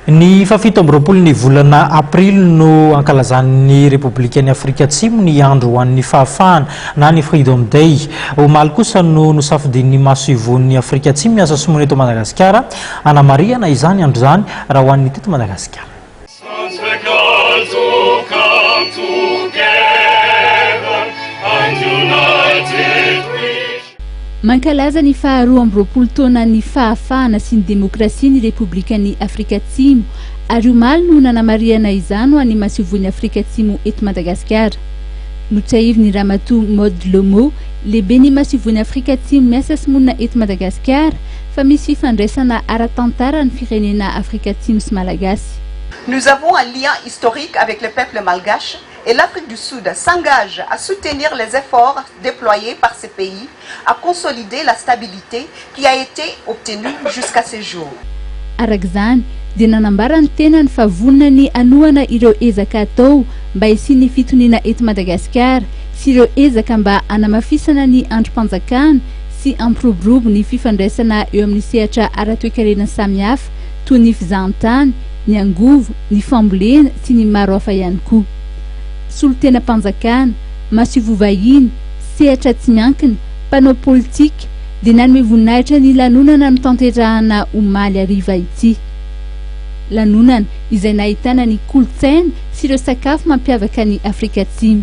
Ny fahafito amby roapolo ny volana Aprily no ankalazan'ny Repoblikan'i Afrika Atsimo ny Andro ho an'ny Fahafahana na ny Freedom Day. Omaly kosa no nosafidian'ny masoivohon'i Afrika Atsimo miasa sinoa eto Madagasikara hanamarihana izany andro izany raha ho an'ny teto Madagasikara. Mankalaza ny faha roa amby roapolo taonan'ny fahafahana sy ny demokrasia ny Repoblikan'i Afrika Atsimo ary omaly no nanamarihana izany ho an'ny masoivohon'i Afrika Atsimo eto Madagasikara. Notsahirin'i Ramatoa Maud Dlomo, lehiben'ny masoivohon'i Afrika Atsimo miasa sy monina eto Madagasikara, fa misy fifandraisana ara-tantara ny firenena Afrika Atsimo sy Malagasy. Nous avons un lien historique avec le peuple malgache et l'Afrique du Sud s'engagent à soutenir les efforts déployés par ces pays à consolider la stabilité qui a été obtenue jusqu'à ce jour. Araka izany, dia nanambara ny tenany fa vonona ny hanohana ireo ezaka atao mba hisian'ny fitoniana eto Madagasikara sy ireo ezaka mba hanamafisana ny andrim-panjakana sy hampiroborobo ny fifandraisana eo amin'ny sehatra ara-toekarena samihafa toy ny fizahantany, ny angovo, ny fambolena sy ny maro hafa ihany koa. Solontenam-panjakana, masoivoho vahiny, sehatra tsy miankina, mpanao politika dia nanome voninahitra ny lanonana notanterahana omaly hariva ity. Lanonana izay nahitana ny kolontsaina sy ireo sakafo mampiavaka an'i Afrika Atsimo.